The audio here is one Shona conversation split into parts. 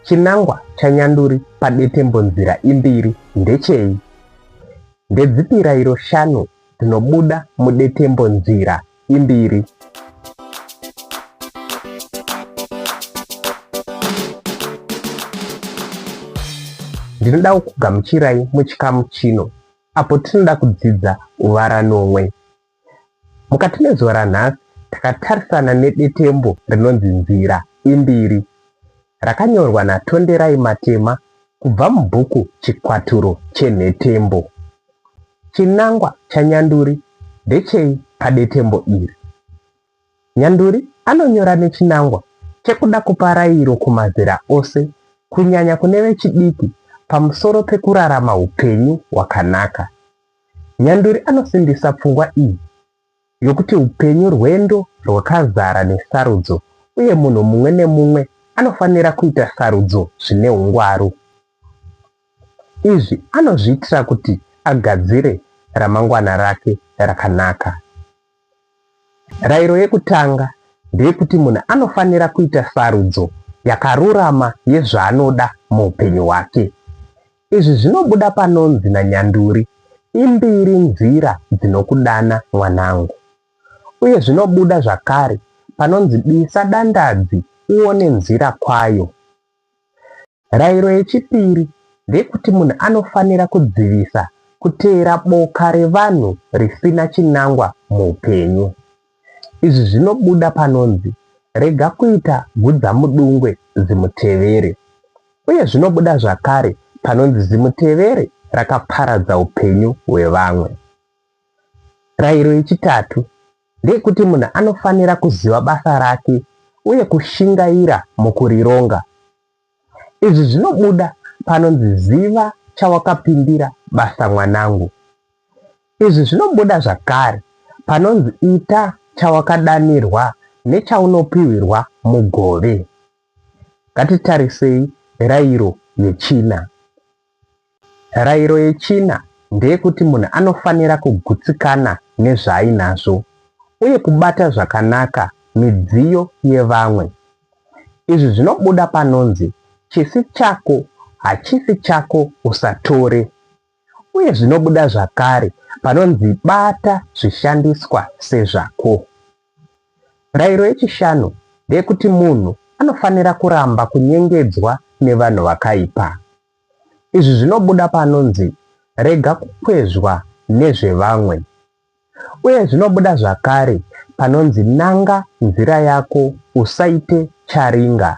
Chinangwa chanyanduri padetembonzira imbiri ndechei? Ndedzipi rairo shanu dzinobuda mudetembonzira imbiri? Ndinoda kukugamuchirai muchikamu chino apo tinoda kudzidza uvaranomwe. Mukati mezuva ranhasi takatarisana nedetembo rinonzi Nzira Imbiri rakanyorwa naTonderai Matema kubva mubhuku Chikwaturo Chenhetembo. Chinangwa chanyanduri ndechei padetembo iri? Nyanduri anonyora nechinangwa chekuda kupa rairo kumazera ose kunyanya kune vechidiki pamusoro pekurarama upenyu hwakanaka. Nyanduri anosimbisa pfungwa iyi yokuti upenyu rwendo rwakazara nesarudzo uye munhu mumwe nemumwe anofanira kuita sarudzo zvine ungwaru. Izvi anozviitira kuti agadzire ramangwana rake rakanaka. Rairo yekutanga ndeyekuti munhu anofanira kuita sarudzo yakarurama yezvaanoda muupenyu hwake. Izvi zvinobuda panonzi nanyanduri, Imbiri nzira dzinokudana mwanangu. Uye zvinobuda zvakare panonzi disa dandadzi uone nzira kwayo. Rairo yechipiri ndeyekuti munhu anofanira kudzivisa kuteera boka revanhu risina chinangwa muupenyu. Izvi zvinobuda panonzi rega kuita gudzamudungwe zimutevere. Uye zvinobuda zvakare panonzi zimutevere rakaparadza upenyu hwevamwe. Rairo yechitatu ndeyekuti munhu anofanira kuziva basa rake uye kushingaira mukurironga. Izvi zvinobuda panonzi ziva chawakapindira basa mwanangu. Izvi zvinobuda zvakare panonzi ita chawakadanirwa nechaunopihwirwa mugove. Ngatitarisei rairo yechina. Rairo yechina ndeyekuti munhu anofanira kugutsikana nezvaainazvo uye kubata zvakanaka midziyo yevamwe. Izvi zvinobuda panonzi chisi chako hachisi chako usatore uye zvinobuda zvakare panonzi bata zvishandiswa sezvako. Rairo yechishanu ndeyekuti munhu anofanira kuramba kunyengedzwa nevanhu vakaipa. Izvi zvinobuda paanonzi rega kukwezvwa nezvevamwe. Uye zvinobuda zvakare panonzi nanga nzira yako usaite charinga.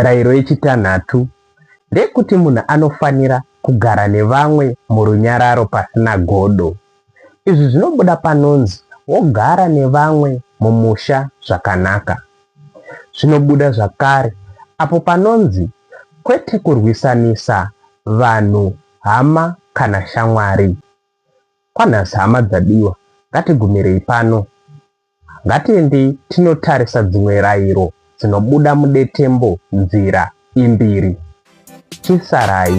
Rairo yechitanhatu ndeyekuti munhu anofanira kugara nevamwe murunyararo pasina godo. Izvi zvinobuda panonzi wogara nevamwe mumusha zvakanaka. Zvinobuda zvakare apo panonzi kwete kurwisanisa vanhu hama kana shamwari. Kwanhasi hama dzadiwa, ngatigumirei pano. Ngatiendei tinotarisa dzimwe rairo dzinobuda mudetembo nzira imbiri. Chisarai.